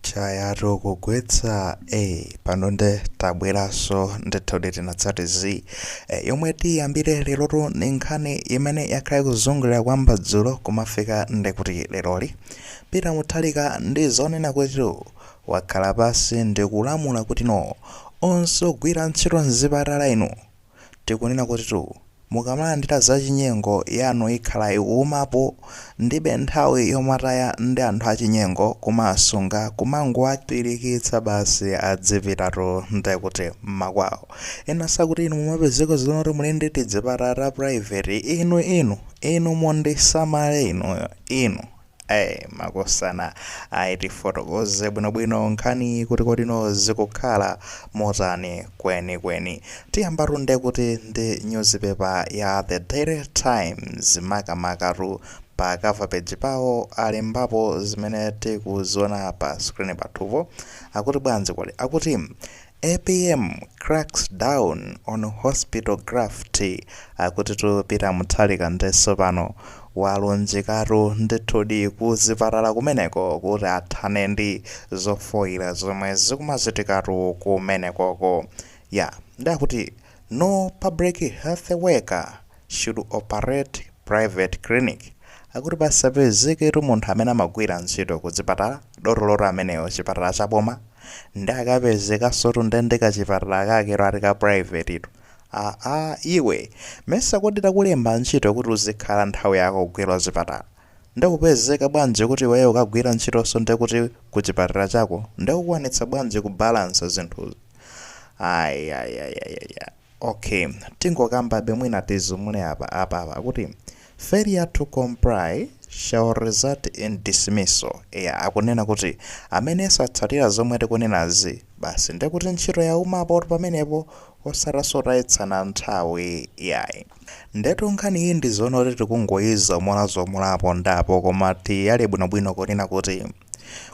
chayatu kugwetsa eh, pano nde tabweraso ndithudi tinatsati, yomwe tiyambire lerotu ni nkhani imene yakhala ikuzungulira kwamba dzulo kumafika ndikuti leroli Peter Mutharika ndi zonena kutitu wakhala pansi ndikulamula kuti no onse ogwira ntchito mzipatala inu tikunena kutitu mukamalandira zachinyengo yanu ikhala ikuumapo ndibe nthawi yomataya ndi anthu achinyengo kumasunga kumangowapirikitsa basi adzipitatu nde kuti mmakwawo ena sakuti inu mumapezeka zonena kuti muli ndi tidzipatala ta private inu inu inu mundisamale inuyo inu Ai makosana ayi tifotokoze bwinobwino nkhaniyi kuti kodino zikukhala motani kwenikweni. Tiyambatu nde kuti ndi nyuzipepa ya The Daily Times makamakatu pa cover page pawo alembapo zimene tikuziona pa screen pathupo. Akuti bwanji kodi? Akuti Apm cracks down on hospital graft akutitu Peter Mutharika nde sopano walunjikatu ndithudi ku zipatala kumeneko kuti athane ndi zofoira zomwe zikumachitikatu kumenekoko yeah nde akuti no public health worker should operate private clinic akuti pasapezeketu munthu amene amagwira ntchito kuchipatala dotolotu ameneyo chipatala cha boma nde akapezekansotu nde ndi kachipatala kakero ati ka privatetu aa iwe mesa kodi takulemba ntchito kuti uzikhala nthawi yako kugwira kuchipatala ndikupezeka bwanji kuti iweyo ukagwira ntchitonso nde kuti kuchipatala chako nde ukwanitsa bwanji kubalansa zinthuzi ayayayayaya. Ok tingokambabe mwina tizumule apa, apapa akuti failure to comply shall result in dismissal eya akunena kuti amene satsatira zomwe tikunenazi basi ndekuti ntchito yaumapo pamenepo osataso kutayitsana nthawi yayi ndetu nkhani iyi ndizonoti tikungoyizomolazomolapo ndapo koma tiyale bwinobwino kunena kuti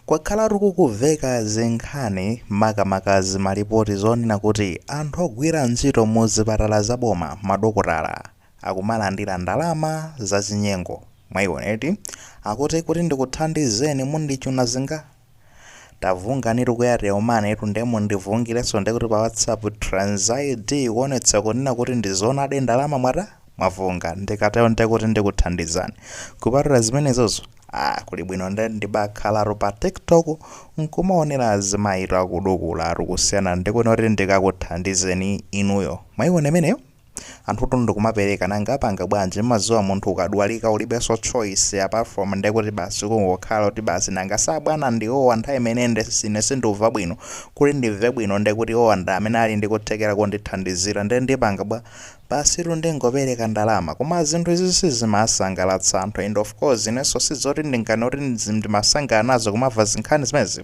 Kwakhalatu kukuveka zinkhani makamaka zimalipoti zonena kuti anthu ogwira ntchito mu zipatala za boma, madokotala, akumalandira ndalama za chinyengo. Mwaiona eti? Akuti kuti ndikuthandizeni mundichuna zinga? Tavunganitu ku Airtel Money tu nde mundivungilenso ndekuti pa WhatsApp trans ID kuonetsa kunena kuti ndi zoonadi ndalama mwata? Mwavunga. Ndikatero ndekuti ndikuthandizani. Kupatula zimenezozo, Ah kuli bwino nde ndibakhalatu pa tiktok nkumaonera azimayitu akudukulatu kusiyana ndikuno kuti ndikakuthandizeni inuyo mwayiona imeneyo anthu tundu kumapereka nanga upanga bwanji mmaziwa munthu ukadwalika ulibenso choice apart from ndekuti basi kungokhala kuti basi nanga si abwana ndi awowa nthawi imene nde sine sindikumva bwino kuti ndimve bwino ndekuti owa ndi amene ali ndikuthekera kundithandizira nde ndipanga bwa Basitu ndingopereka ndalama. Koma zinthu izizi sizimasangalatsa anthu and of course inenso sizoti ndinganene kuti ndimasangala nazo kumava zinkhani zimenezi.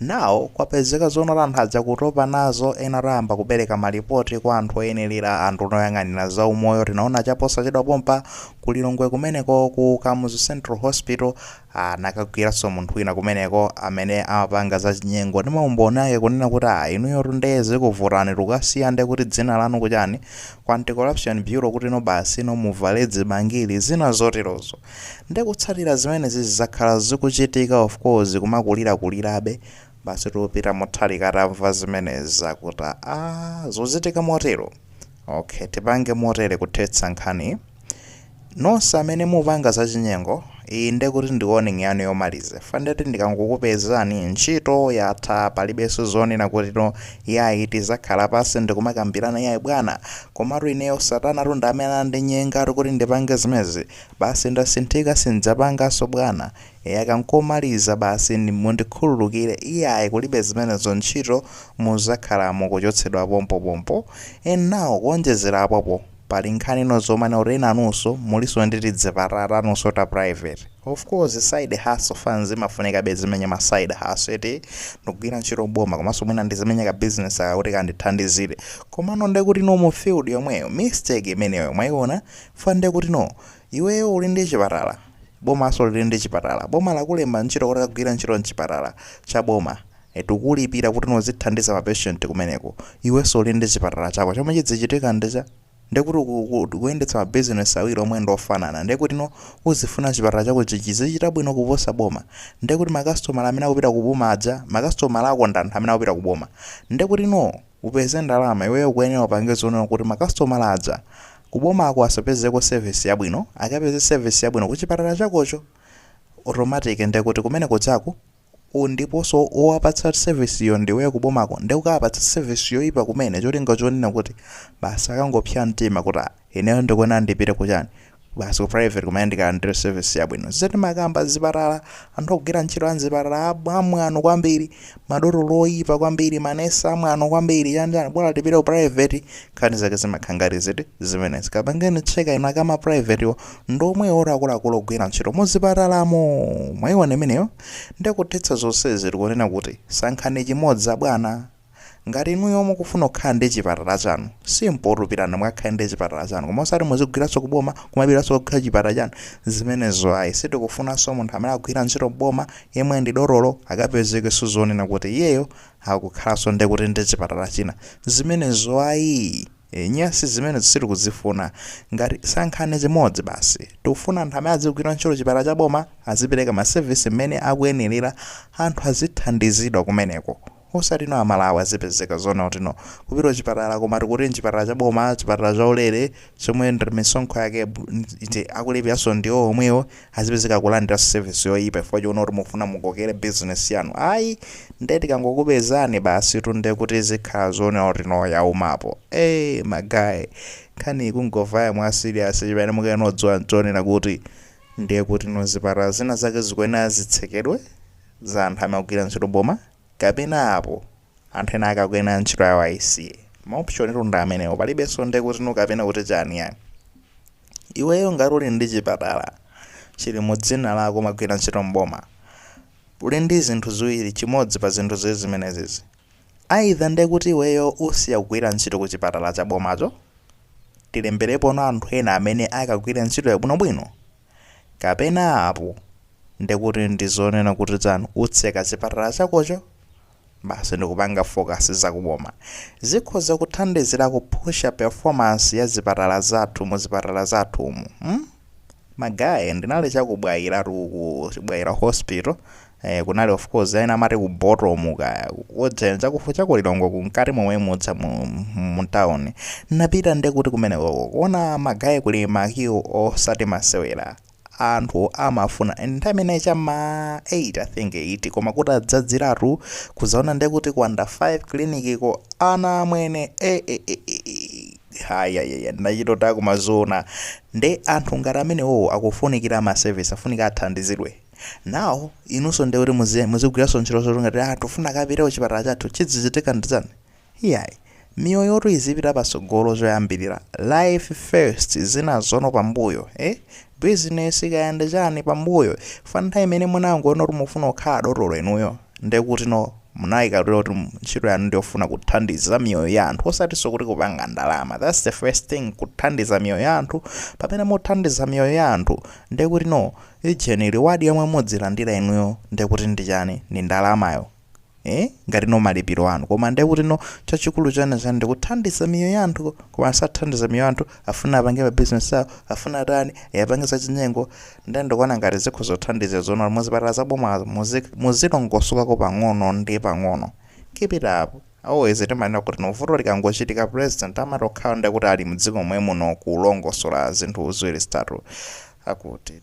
Now kwapezeka zonena kuti anthu aja kutopa nazo ena ayamba kupereka malipoti kwa anthu oyenelera anduna oyang'anira za umoyo tinaona chaposachedwa pompa ku Lilongwe kumeneko ku Kamuzu Central Hospital anakagwiranso munthu wina kumeneko amene amapanga za chinyengo ndi maumboni ake kunena kuti ah inuyotu nde zikuvutani tukasiya nde kuti dzina lanu kuchani ku anti-corruption bureau kuti no basi no muvale zibangili zina zoterozo ndi kutsatira zimenezi zakhala zikuchitika of course kumakulirakulirabe basitu peter mutharika atamva zimenezi akuti ah zochitika motero Ok tipange motere kuthetsa nkhaniyi. Nonse amene mupanga zachinyengo, iyi nde kuti ndi warning yanu yomaliza chifukwa ndeti ndikangokupezani ntchito yatha palibenso zonena kuti no yayi tizakhala pansi ndikumakambirana yayi bwana komatu ineyo satanatu ndi amene anandinyenga kuti ndipange zimenezi basi ndasinthika sindidzapanganso bwana Eya aka nkomaliza basi mundikhululukire iyayi kulibe zimenezo ntchito muzakhala mukuchotsedwa pompo pompo and now kuonjezera apopo pali nkhanino zomanena kuti enanunso mulinso ndi tidzipatala tanunso ta private of course side hustle fans imafunikabe uzimenya ma side hustle eti ndikugwira ntchito m'boma komanso mwina ndizimenya ka business aka kuti kandithandizire komano ndekuti no mu field yomweyo mistake imeneyo mwaiona chifukwa ndekuti no iweyo uli ndi chipatala bomaso lili ndi chipatala boma lakulemba ntchito kuti kagwire ntchito nchipatala cha boma eti likukulipira kuti no uzithandiza ma patient kumeneko iweso uli ndi chipatala chako chomwe chizichitika ndi cha ndiye kuti uku- uku- ukuyendetsa ma business awiri omwe ndi ofanana ndiye kuti no uzifuna chipatala chako chi- chizichita bwino kuposa boma ndiye kuti makasitomala amene akupita kuboma aja makasitomala ako ndi anthu amene akupita kuboma ndiye kuti no upeze ndalama iweyo ukuyenera upange zonena kuti makasitomala aja Kubomako asapezeko service yabwino akapeze service yabwino kuchipatala chakocho automatic ndekuti kumene kuja ndiponso owapatsa service iyo ndiweyo kubomako nde ukawapatsa service yoipa kumene cholinga chonena kuti basi akangopsya mtima kuti ah ineyo ndikuyenera ndipite kuchani basi ku private kumene ndikalandire service yabwino zija timakamba zipatala anthu ogwira ntchito amzipatala amwano kwambiri madotolo oyipa kwambiri manesi amwano kwambiri chanjani bola tipite ku private nkhani zake zimakhala ngati ziti zimenezi kapangeni check up ina akuma privatewo ndi omwewo oti akuluakulu ogwira ntchito muzipatalamo mwayiona imeneyo ndekuthetsa zonsezi tikunena kuti sankhani chimodzi abwana ngati inuyo mukufuna kukhala ndi chipatala chanu simple tupitani mukakhale ndi chipatala chanu koma osati muzigwiranso kuboma kumapitanso kukhala chipatala chanu zimenezo ayi sitikufunanso munthu amene akugwira ntchito mboma yemwe ndi dotolo akapezekenso zoonena kuti iyeyo akukhalanso nde kuti ndi chipatala china zimenezo ayii ee nyasi zimenezo sitikuzifuna ngati sankhani chimodzi basi tikufuna anthu amene azigwira ntchito chipatala cha boma azipereka ma service mmene akuyenelera anthu azithandizidwa kumeneko osati no amalawi azipezeka zoona kuti no kupita kuchipatala koma tikuti nchipatala cha boma chipatala cha ulere chomwe ndi misonkho yake iti akulipiranso ndiwo omwewo azipezeka kulandira service yoyipa chifukwa chonena kuti mufuna mukokere business yanu ayi nde tikangokupezani basi tunde kuti zikhala zoona kuti no yaumapo eh magaye nkhani ikungovaya mwa serious chimene mukuyenodziwa nchonena kuti ndiye kuti no zipatala zina zake zikuyenera zitsekedwe za anthu amene akugwira ntchito mboma kapena apo anthu ena ake akuyenera ntchito yawo ayisiye ma option tu ndi amenewo palibenso nde kuti no kapena kuti chani yani iweyo ngati uli ndi chipatala chili mu dzina lako umagwira ntchito mboma uli ndi zinthu ziwiri chimodzi pa zinthu ziwiri zimenezizi either nde kuti iweyo usiya kugwira ntchito ku chipatala cha bomacho tilemberepono anthu ena amene akagwira ntchito yabwinobwino Kapena apo nde kuti ndizonena kuti dzanu utseka chipatala chakocho basi ndikupanga focus za ku boma. Zikhoza kuthandizira kupusha performance ya zipatala zathu mu zipatala zathumo. mm? Ma guy ndinali cha ku Bwaila tu uku, Bwaila hospital, Eh, kunali of course aina amati ku bottom kaya kudzera chakufupi chakulilongwe kunkati momwe mudza mu, mu town napita nde kuti kumenekoko kuona magaye kuli ma queue osati masewera anthu amafuna and nthawi imeneyo cha ma 8 i think 8 koma kuti adzadziratu kuzaona nde kuti ku under 5 clinic ko anthu amwene eh, eh, eh, eh, eh. hayayaya ndinachitota kumaziona nde anthu ngati amenewowo akufunikira ma service afunika athandizidwe now inunso ndiye kuti muzi- muzigwiranso ntchito zoti ngati ah tufuna mukapite ku chipatala chathu chidzichitika ndi chani iyayi miyoyotu izipita patsogolo zoyambirira life first zinazo no pambuyo eh? business kaya ndi chani pambuyo pa nthawi imene munangoona kuti mufuna kukhala dotolo inuyo ndiye kuti no munayikatira kuti mu- ntchito yanu ndiyofuna kuthandiza miyoyo ya anthu osatinso kuti kupanga ndalama thats the first thing kuthandiza miyoyo ya anthu pamene muthandiza miyoyo ya anthu ndiye kuti no Ujeni reward yomwe mudzilandira inuyo ndekuti ndi chani ndi ndalamayo eh ngati ndi malipiro anu koma ndekuti no chachikulu chake ndikuthandiza miyoyo ya anthu koma sathandiza miyoyo ya anthu afuna apange ma business awo afuna atani apange za chinyengo nde ndikuona ngati zikhoza kuthandiza zoona muzipatala za boma muzi- muzilongosokako pang'ono ndi pang'ono keep it up Always timanena kuti no vuto likangochitika president amatakhala nde kuti ali mdziko momwemuno kulongosola zinthu ziwiri zitatu akuti.